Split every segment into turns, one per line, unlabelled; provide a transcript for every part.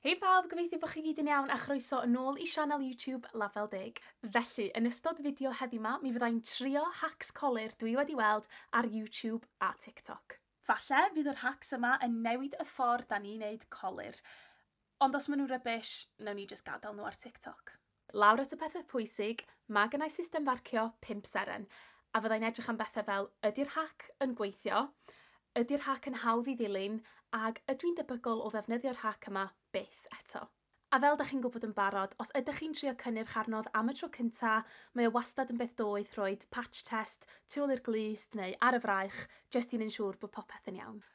Hei pawb, gobeithio bod chi gyd yn iawn a chroeso yn ôl i sianel YouTube Label Deg. Felly, yn ystod fideo heddiw 'ma, mi fyddai'n trio hacs colur dwi wedi weld ar YouTube a TikTok. Falle fydd yr hacs yma yn newid y ffordd 'da ni'n neud colur. Ond os ma' nhw'n rubbish, newn ni jyst gadael nhw ar TikTok. Lawr at y pethau pwysig, mae gennai system farcio pump seren, a fyddai'n edrych am bethau fel ydy'r hac yn gweithio, ydy'r hac yn hawdd i ddilyn, ag ydw i'n debygol o ddefnyddio'r hac yma byth eto. A fel 'da chi'n gwybod yn barod, os ydych chi'n trio cynnyrch arnodd am y tro cynta, mae o wastad yn beth doeth rhoid patch test tu ôl i'r glust neu ar y fraich jyst i wneud yn siŵr bod popeth yn iawn.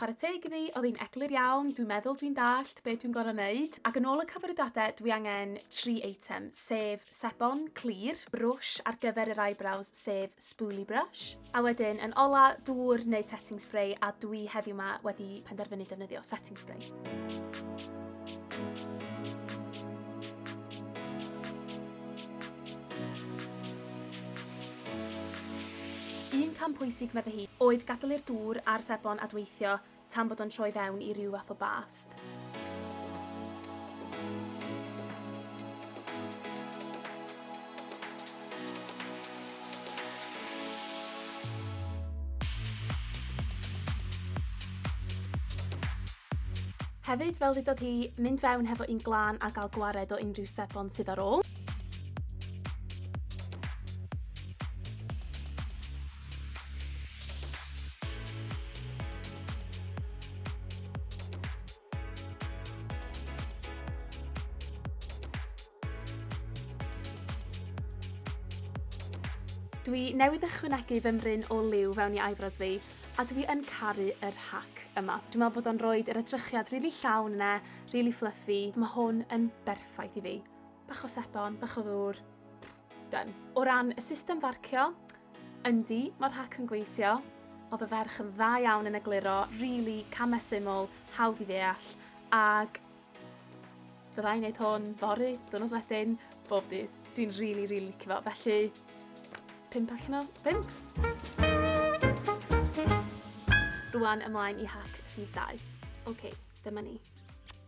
Chwarae teg iddi, oedd hi'n eglur iawn, dwi'n meddwl dwi'n dallt be dwi'n gorau wneud, ac yn ôl y cyfarwyddiadau dwi angen tri eitem, sef sebon clir, brwsh ar gyfer yr eyebrows sef spoolie brush, a wedyn yn ola dŵr neu setting spray a dwi heddiw ma wedi penderfynu defnyddio setting spray. Un cam pwysig, meddai hi, oedd gadael i'r dŵr a'r sebon adweithio tan bod o'n troi fewn i ryw fath o bast. Hefyd, fel ddudodd hi, mynd fewn hefo un glân a gael gwared o unrhyw sebon sydd ar ôl. Dwi newydd ychwanegu fy mryn o liw fewn i eyebrows fi, a dwi yn caru yr hack yma. Dwi'n meddwl bod o'n rhoi yr edrychiad rili really llawn yna, rili really fluffy. Mae hwn yn berffaith i fi. Bach o sebon, bach o ddŵr, done. O ran y system farcio, yndi, mae'r hac yn gweithio. Oedd y ferch yn dda iawn yn egluro, really, camau syml, hawdd i ddeall, ag byddai'n gwneud hwn fory, dwrnod wedyn, bob dydd. Dwi'n really, really licio fo. Felly, 5 allan o 5. Rwan ymlaen i hack rhif 2. OK, dyma ni.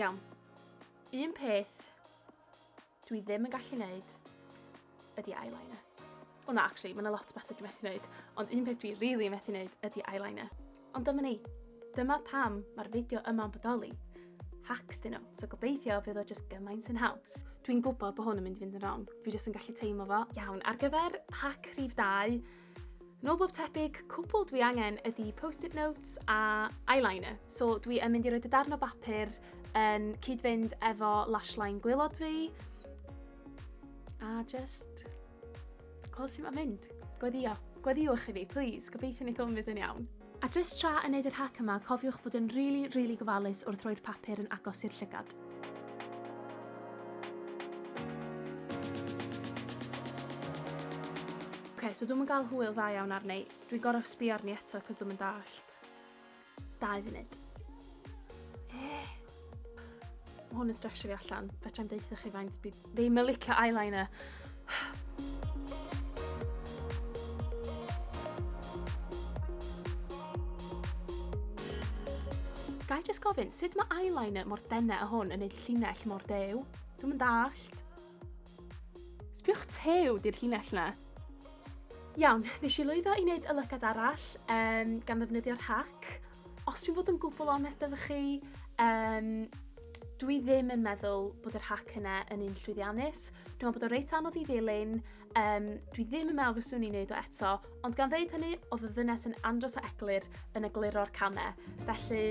Iawn. Un peth dwi ddim yn gallu neud ydy eyeliner. Wel na, actually, mae'n lot o bethau dwi'n methu neud, ond un peth dwi rili really methu neud ydy eyeliner. Ond dyma ni. Dyma pam mae'r fideo yma'n bodoli. Hacks dyn nhw, so gobeithio fydd o just gymaint yn haws. Dwi'n gwybod bod hwn yn mynd i fynd yn wrong, fi jyst yn gallu teimlo fo. Iawn, ar gyfer hack rhif 2, Nôl bob tebyg, cwbl dwi angen ydy post-it notes a eyeliner. So dwi yn mynd i roi dy darn o bapur yn cyd-fynd efo lash line gwylod fi. A just... Gweld sy'n mynd. Gweddio. Gweddiwch i fi, please. Gobeithio ni ddim yn mynd yn iawn. A jyst tra yn neud yr hack yma cofiwch bod yn rili, rili gofalus wrth roi'r papur yn agos i'r llygad. Oce, so dwi'm yn gael hwyl dda iawn arni. Dwi gorau sbio arni eto cos dwi'm yn dallt. Dau funud. Eh, Mae hwn yn stresio fi allan. Fetrai'm deutha chi faint dwi ddim yn licio eyeliner. Gai just gofyn, sut mae eyeliner mor dene a hwn yn neud llinell mor dew? Dwi'm yn dallt. Sbiwch tew di'r llinell 'na. Iawn, nes i lwyddo i wneud y lygad arall um, gan ddefnyddio'r hac. Os dwi'n bod yn gwbl onest efo chi, um, dwi ddim yn meddwl bod yr hac yna yn un llwyddiannus. Dwi'n meddwl bod o reit anodd i ddilyn, Um, dwi ddim yn meddwl fyswn i'n neud o eto, ond gan ddeud hynny, oedd y ddynes yn andros o eglur yn egluro'r camau, felly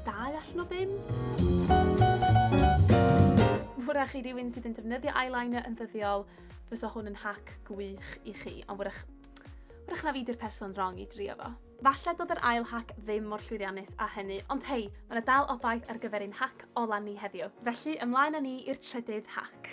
dau allan o bum. Wrach i rywun sydd yn defnyddio eyeliner yn ddyddiol, fysa hwn yn hac gwych i chi, ond wrach, wrach na fi di'r person wrong i drio fo. Falle dod yr ail hac ddim mor llwyddiannus a hynny, ond hei, mae yna dal obaith ar gyfer ein hac ola ni heddiw. Felly, ymlaen â ni i'r trydydd hac.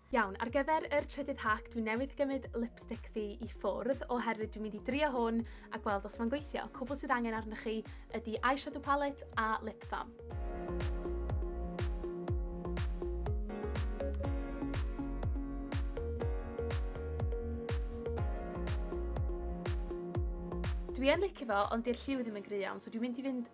Iawn, ar gyfer yr
trydydd hack dwi newydd gymryd lipstick fi i ffwrdd oherwydd dwi'n mynd i drio hwn a gweld os mae'n gweithio. Cwbl sydd angen arnoch chi ydy eyeshadow palette a lip balm. Dwi yn licio fo ond 'di'r lliw ddim yn gry' iawn so dwi'n mynd i fynd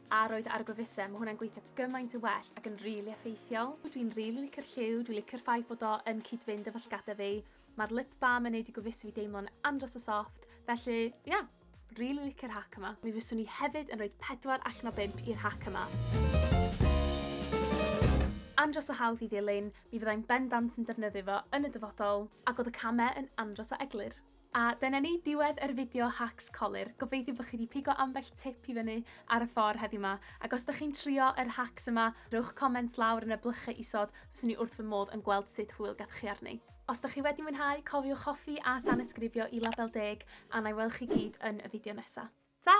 A roedd ar y gwefusau, mae hwnna'n gweithio gymaint yn well ac yn rili effeithiol. Dwi'n rili licio'r lliw, dwi'n licio'r ffaith bod o yn cyd-fynd efo llygada fi. Mae'r lip balm yn neud i gwefusau fi deimlo'n andros o soft, felly ia, rili licio'r hack yma. Mi fyswn i hefyd yn rhoid pedwar allan o bump i'r hack yma. Andros o hawdd i ddilyn, mi fyddai'n bendant yn defnyddio fo yn y dyfodol, ac oedd y camau yn andros o eglur. A dyna ni, diwedd yr fideo hacks colur. Gobeithio bod chi 'di pigo ambell tip i fyny ar y ffordd heddiw 'ma, ac os 'dych chi'n trio yr hacks yma, rhowch comment lawr yn y blychau isod, fyswn i wrth fy modd yn gweld sut hwyl gafwch chi arni. Os 'dych chi wedi mwynhau, cofiwch hoffi a thanysgrifio i Label Deg, a 'na i weld chi gyd yn y fideo nesa. Ta!